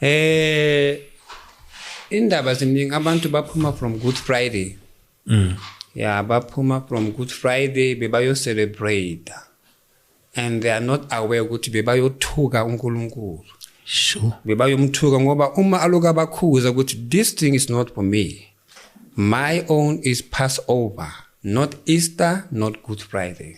eh indaba ziningi abantu baphuma from good friday mm. ya baphuma from good friday bebayocelebrate and they are not aware ukuthi bebayothuka unkulunkulu sure bebayomthuka ngoba uma aloku abakhuza ukuthi this thing is not for me my own is passover not easter not good friday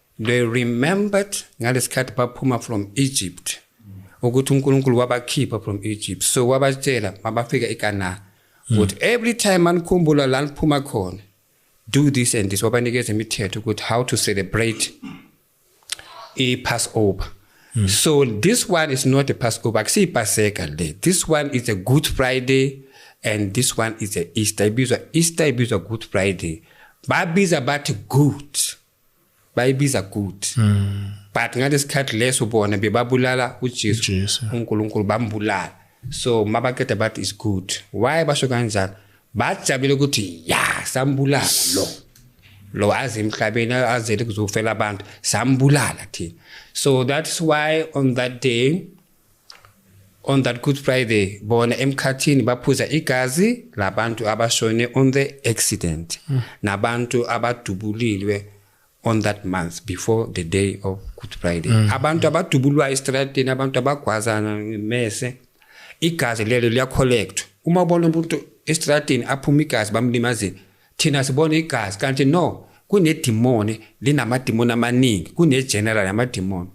they remembered ngalesikhathi baphuma from Egypt ukuthi uNkulunkulu wabakhipha from Egypt so wabatshela mabafika eCanaan hmm. ukuthi every time manikhumbula la niphuma khona do this and this wabanikeza imithetho ukuthi how to celebrate i Passover Mm. So this one is not a Passover, actually Passover day. This one is a Good Friday and this one is a Easter. Ibizwa Easter ibizwa Good Friday. Babiza bathi good. bayibiza good mm. but ngalesikhathi leso bona bebabulala uJesu uNkulunkulu bambulala so mabaqeda bathi is good why basho kanjalo bajabule ukuthi ya sambulala lo lo aze emhlabeni azele kuzofela abantu sambulala thina so that's why on that day on that good friday bona emkhathini baphuza igazi labantu abashone on the accident mm. nabantu abadubulilwe on that month before the day of good friday mm. abantu abadubulwa estradini abantu abagwazana mese igazi lelo liyacollectwa uma ubona umuntu estradini aphuma igazi bamlimazile thina sibona igazi kanti no kunedimoni linamadimoni amaningi kunegeneral yamadimoni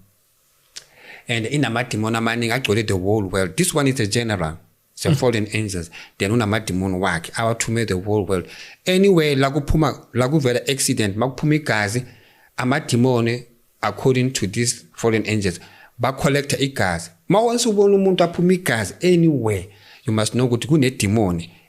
and inamadimoni amaningi agcwele the whole world this one is a general the mm. fallen angels then unamadimoni wakhe awathume the whole world anyway la kuphuma la kuvela accident makuphuma igazi amadimoni according to these fallen angels bacollecta igazi ma once ubona umuntu aphuma igazi anywhere you must know ukuthi kunedimoni